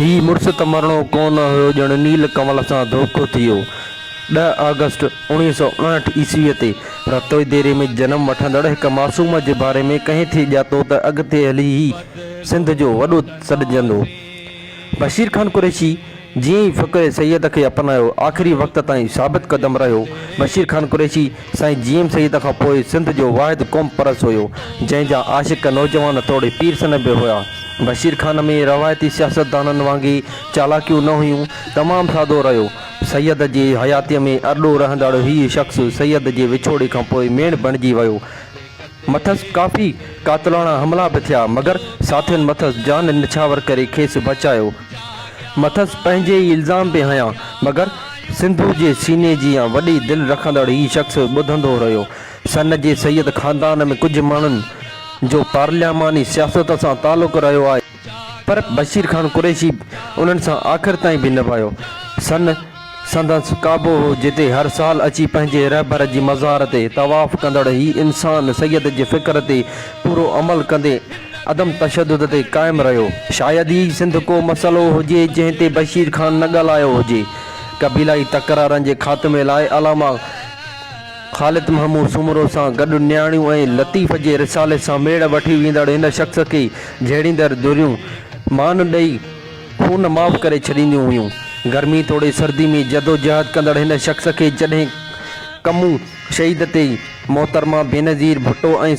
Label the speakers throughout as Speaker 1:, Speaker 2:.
Speaker 1: هي مڙس ته مرڻو ڪو نه هيو ڄڻ نيل ڪمل سان ڌوڪو ٿي ويو. ڏهه آگسٽ اوڻيهه سؤ اڻهٺ عيسويء تي رتوئي ديري ۾ جنم وٺندڙ هڪ معصوم جي باري ۾ ڪنهن ٿي ڄاتو ته اڳتي هلي هي سنڌ جو وڏو سڏجندو. بشير خان قريشي جيئن ئي فقيه سيد کي اپنايو، آخري وقت تائين ثابت قدم رهيو. بشير خان قريشي سائين جي ايم سيد کان پوء سنڌ جو واحد قوم پرست هيو، جنهن جا عاشق نوجوان توڙي پير سنه به هيا. بشير خان ۾ روايتي سياستدانن وانگي چالاڪيون نه هيون، تمام سادو رهيو. سيد جي حياتيء ۾ ارڏو رهندڙ هيء شخص سيد جي وڇوڙي کان پوء ميڻ بڻجي ويو. مٿس ڪافي قاتلاڻا حملا به ٿيا مگر ساٿين مٿس جان نڇاور ڪري کيس بچايو. مٿس پنهنجي ئي الزام به هنيا مگر سنڌو جي سيني جيان وڏي دل رکندڙ هي شخص ٻڌندو رهيو. سن جي سيد خاندان ۾ ڪجهه ماڻهن جو پارلياماني سياست سان تعلق رهيو آهي. پر بشير خان قريشي انهن سان آخر تائين به نڀايو. سن سندس ڪعبو هو جتي هر سال اچي پنهنجي رهبر جي مزار تي طواف ڪندڙ هي انسان سيد جي فڪر تي پورو عمل ڪندي عدم تشدد تي قائم رهيو. شايد ئي سنڌ ڪو مسئلو هجي جنهن تي بشير خان نه ڳالهايو هجي. قبيلائي تڪرارن جي خاتمي لاء علامه. خالد محمود سومرو سان گڏ نياڻيون ۽ لطيف جي رسالي سان ميڙ وٺي ويندڙ هن شخص کي جهيڙيندڙ ڌريون مان ڏئي خون معاف ڪري ڇڏينديون هيون. گرمي توڙي سردي ۾ جدوجهد ڪندڙ هن شخص کي جڏهن ڪمون شهيد تي محترمه بينظير ڀٽو ۽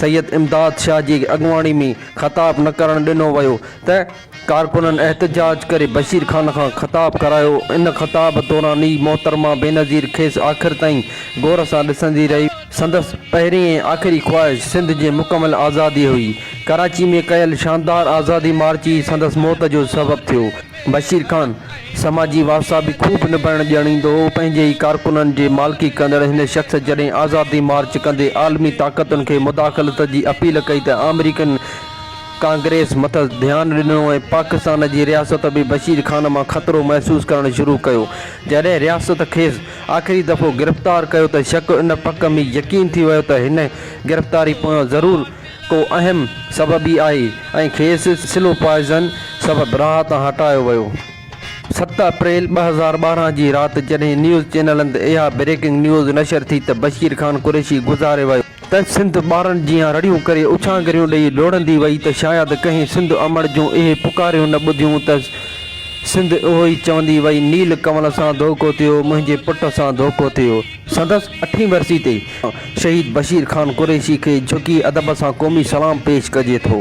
Speaker 1: سيد امداد شاهه جي اڳواڻي ۾ خطاب نه ڪرڻ ڏنو ويو ته ڪارڪنن احتجاج ڪري بشير خان کان خطاب ڪرايو، ان خطاب دوران ئي محترمه بينظير کيس آخر تائين غور سان ڏسندي رهي. سندس پهرين ۽ آخري خواهش سنڌ جي مڪمل آزادي هئي. ڪراچي ۾ ڪيل شاندار آزادي مارچ ئي سندس موت جو سبب ٿيو. بشير خان سماجي وارثا به خوب نڀائڻ ڄاڻيندو هو، پنهنجي ئي ڪارڪنن جي مالڪي ڪندڙ هن شخص جڏهن آزادي مارچ ڪندي عالمي طاقتن کي مداخلت جي اپيل ڪئي ته آمريڪين ڪانگريس مٿس ڌيان ڏنو ۽ پاڪستان جي رياست به بشير خان مان خطرو محسوس ڪرڻ شروع ڪيو. جڏهن رياست کيس آخري دفعو گرفتار ڪيو ته شڪ ان پڪ ۾ يقين ٿي ويو ته هن گرفتاري پويان ضرور ڪو اهم سبب ئي آهي ۽ کيس سلو پوائيزن سبب راهه تان هٽايو ويو. ست اپريل ٻه هزار ٻارهن جي رات جڏهن نيوز چينلن تي اها بريڪنگ نيوز نشر ٿي ته بشير خان قريشي گذاري ويو. ته سنڌ ٻارن جيان رڙيون ڪري اڇانگريون ڏئي ڊوڙندي وئي ته شايد ڪنهن سنڌ امڙ جون اهي پڪاريون نه ٻڌيون ته سنڌ اهو ئي چوندي وئي نيل ڪمل سان ڌوڪو ٿيو منهنجي پٽ سان ڌوڪو ٿيو. سندس اٺين ورسي تي شهيد بشير خان قريشي کي جهڪي ادب سان قومي سلام پيش ڪجي ٿو.